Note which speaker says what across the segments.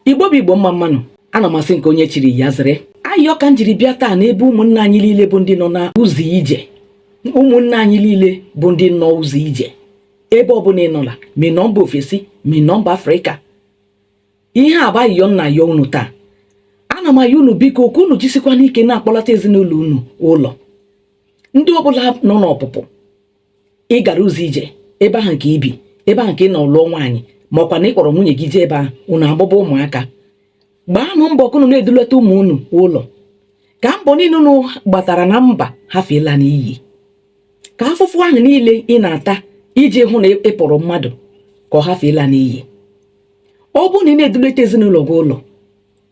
Speaker 1: igbo bụ igbo mma mma nụ ana m asị nke onye chiri ya zere ayịyọ ka m jiri bịa taa n'ebe ụmụnna anyị niile bụ ndị nọ na ụzọ ije ụmụnna anyị niile bụ ndị nọ ụzọ ije ebe ọbụla ị nọla ma ị nọ mba ofesi ma ị nọ mba afrịka ihe a bụ ayịyọ m na-ayọ unu taa ana m ayọ unu biko ka unu jisikwa n'ike na-akpọlata ezinụlọ unu ụlọ ndị ọbụla nọ n'ọpụpụ ị gara ụzọ ije ebe ahụ ka i bi ebe ahụ ka ị nọ lụọ nwaanyị ma ọkwa na ị kpọrọ nwunye gị jee ebe ahụ unu amụba ụmụaka gbaanụ mbọ ka unu na-edulata ụmụ unu ụlọ ka mbọ niile unu gbatara na mba hafụ ịla n'iyi ka afụfụ ahụ niile ị na-ata iji hụ na ị pụrụ mmadụ ka ọ hafụ ịla n'iyi ọ bụrụ na ị na-edulata ezinụlọ gị ụlọ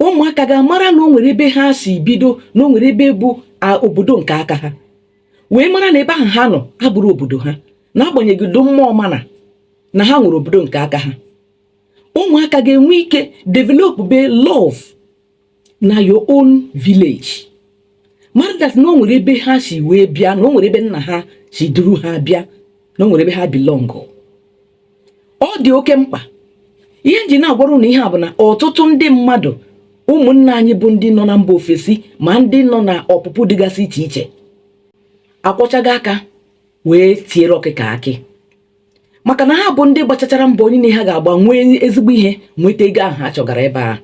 Speaker 1: ụmụaka ga-amara na o nwere ebe ha si bido na o nwere ebe bụ obodo nke aka ha wee mara na ebe ahụ ha nọ abụrọ obodo ha n'agbanyeghị ụdị mma ọ mara na ha nwere obodo nke aka ha ụmụaka ga-enwe ike developube love na your own village mara that na o nwere ebe ha si wee bịa na o nwere ebe nna ha si duru ha bịa na o nwere ebe ha belong ọ dị oke mkpa ihe m ji na-agwara unu ihe a bụ na ọtụtụ ndị mmadụ ụmụnna anyị bụ ndị nọ na mba ofesi ma ndị nọ na ọpụpụ dịgasị iche iche akwọchago aka wee tiere ọkụkọ akị maka na ha bụ ndị gbachachara mbọ niile ha ga-agba nwee ezigbo ihe nweta ego ahụ ha chọgara ebe ahụ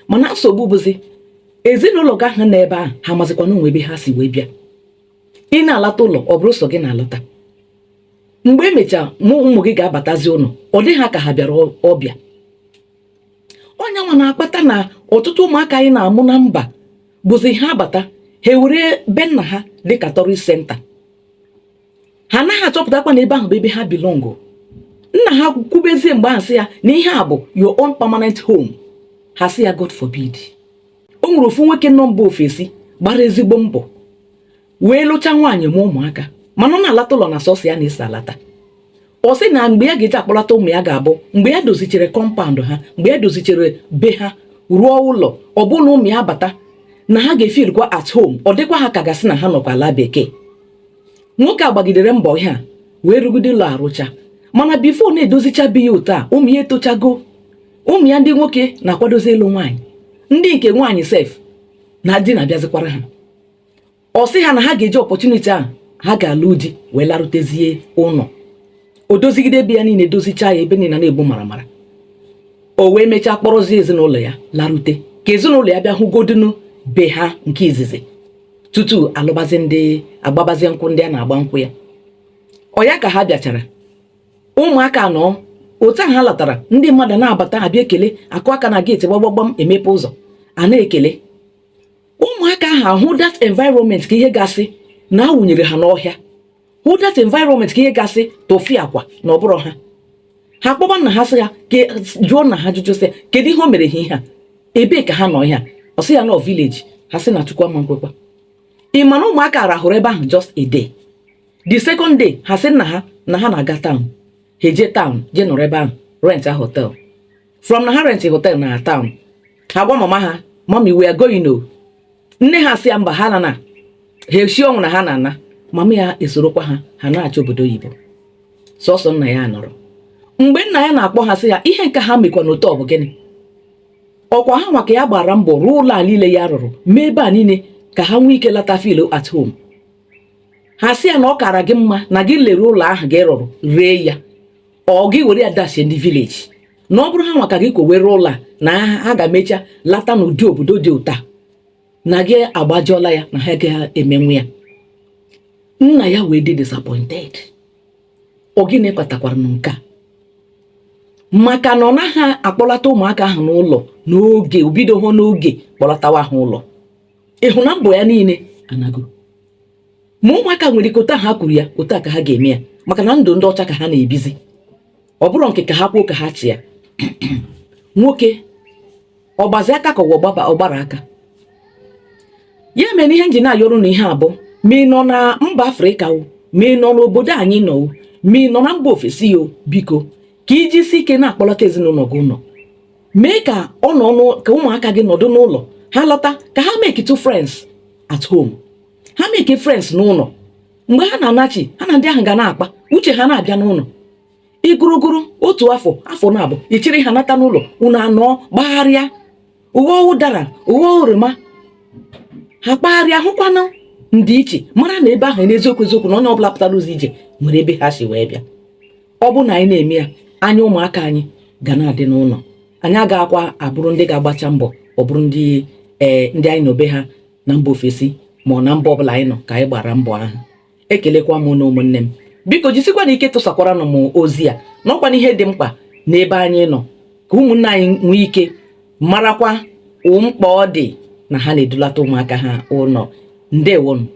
Speaker 1: mana nsogbu bụzi ezinụlọ gị ahụ nọ ebe ahụ ha mazikwa na o nwe ebe ha si wee bịa ị na-alata ụlọ ọ bụrụ sọ gị na-alata mgbe emechaa mụ ụmụ gị ga-abatazi ụlọ ọ dị ha ka ha bịara ọbịa ọ nya nwa na-akpata na ọtụtụ ụmụaka anyị na-amụ na mba bụzi ha abata ha ewere be nna ha dịka tourist center ha anaghị achọpụtakwa na ebe ahụ bụ ebe ha belong nna ha kwubezie mgbe ahụ sị ya na ihe a bụ your own permanent home ha sị ya God forbid o nwere ofu nwoke nọ mba ofesi gbara ezigbo mbọ wee lụcha nwaanyị mụa ụmụaka mana ọ na-alata ụlọ na sọsọ ya na-esi alata ọ sị na mgbe ya ga-eji akpọlata ụmụ ya ga-abụ mgbe ya dozichere compound ha mgbe ya dozichere be ha rụọ ụlọ ọ bụ na ụmụ ya bata na ha ga-efeelkwa at home ọ dịkwa ha ka a ga-asị na ha nọkwa ala bekee nwoke a gbagidere mbọ ihe a wee rụgide ụlọ a rụchaa mana before ọ na-edozicha be ya otu a ụmụ ya etochago ụmụ ya ndị nwoke na-akwadozi ịlụ nwaanyị ndị nke nwaanyị sef na di na-abịazikwara ha ọ sị ha na ha ga-eji opportunity a ha ga-alụ di wee larụtezie ụlọ o dozigide ebe ya niile dozichaa ya ebe niile na-egbu maramara o wee mechaa kpọrọzie ezinụlọ ya larute ka ezinụlọ ya bịa hụgodinu be ha nke izizi tutu alụbazi di agbabazi nkwụ ndị a na-agba nkwụ ya ọ ya ka ha bịachara ụmụaka nọ otu ahụ ha latara ndị mmadụ na-abata abịa ekele akụ aka na gate gbagbam emepe ụzọ a na-ekele ụmụaka ahụ ahụ that environment ka ihe ga-asị na a wụnyere ha n'ọhịa hụ that environment ka ihe ga-asị tufiakwa na ọ bụrọ ha ha kpọba nna ha sị ya jụọ nna ha ajụjụ sị kedu ihe o mere ha ihe a ebee ka ha nọ ihe a ọ sị ya na ọ village ha sị na chukwu ama nkwekwa ị ma na ụmụaka rahụrụ ebe ahụ just a day the second day ha sị nna ha na ha na-aga town ha eje town jee nọrọ ebe ahụ rent a hotel from na ha rent hotel na town ha gwa mama ha mommy we are going o nne ha sị ya mba ha na na ha esi ọnwụ na ha na-ana mama ya esorokwa ha ha na-achọ obodo oyibo sọsọ nna ya nọrọ mgbe nna ya na-akpọ ha sị ya ihe nke ha mekwanụ otu a bụ gịnị ọ kwa ha nwa ka ya gbara mbọ rụọ ụlọ a niile ya rụrụ mee ebe a niile ka ha nwee ike lata feel at home ha sị ya na ọ kara gị mma na gị lere ụlọ ahụ gị rụrụ ree ya ọ gị were ya dashie ndị village na ọ bụrụ ha nwa ka gị kowere ụlọ a na ha ga-emecha lata n'ụdị obodo dị otu a na gị agbajọla ya na ha agaghị emenwu ya nna ya wee dị disappointed ọ gịnị kpatakwaranụ nke a maka na ọ naghị akpọlata ụmụaka ahụ n'ụlọ n'oge o bidoho n'oge kpọlatawa ha ụlọ ị hụ na mbọ ya niile anago ma ụmụaka nwere ike otu ha kwuru ya otu a ka ha ga-eme ya maka na ndụ ndị ọcha ka ha na-ebizi ọ bụrụ nke ka ha kwuo ka ha chịa nwoke ọ gbazi aka ka ọ gbaba ọ gbara aka ya mere ihe m ji na-ayọrọ na ihe a bụ ma ị nọ na mba afrịka o ma ị nọ n'obodo anyị nọ o ma ị nọ na mba ofesi o biko ka i jisi ike na-akpọlọta ezinụlọ gị ụlọ mee ka ọ nọ ka ụmụaka gị nọdụ n'ụlọ ha lọta ka ha make two friends at home ha make friends n'ụlọ mgbe ha na-anachi ha na ndị ahụ ga na-akpa uche ha na-abịa n'ụlọ ị gụrụ gụrụ otu afọ afọ naabọ i chiri ha nata n'ụlọ unu anọ gbagharịa aghọ ụdara aghọ oroma ha kpagharịa hụkwanụ ndị ichie mara na ebe ahụ n'eziokwu eziokwu na onye ọbụla pụtara ụzọ ije nwere ebe ha si wee bịa ọ bụ na anyị na-eme ya anya ụmụaka anyị ga na-adị n'ụlọ anyị agaghịkwa abụrụ ndị ga-agbacha mbọ ọ bụrụ ndị ee eh, ndị anyị nọ be ha na mba ofesi ma ọ na mba ọbụla anyị nọ ka anyị gbara mbọ ahụ ekelekwa m unu ụmụnne m biko jisikwanụ ike tụsakwara nụ m ozi a n'ọkwa na ihe dị mkpa n'ebe anyị nọ ka ụmụnne anyị nwee ike marakwa mkpa ọ dị na ha na-edulata ụmụaka ha ụlọ ndewonụ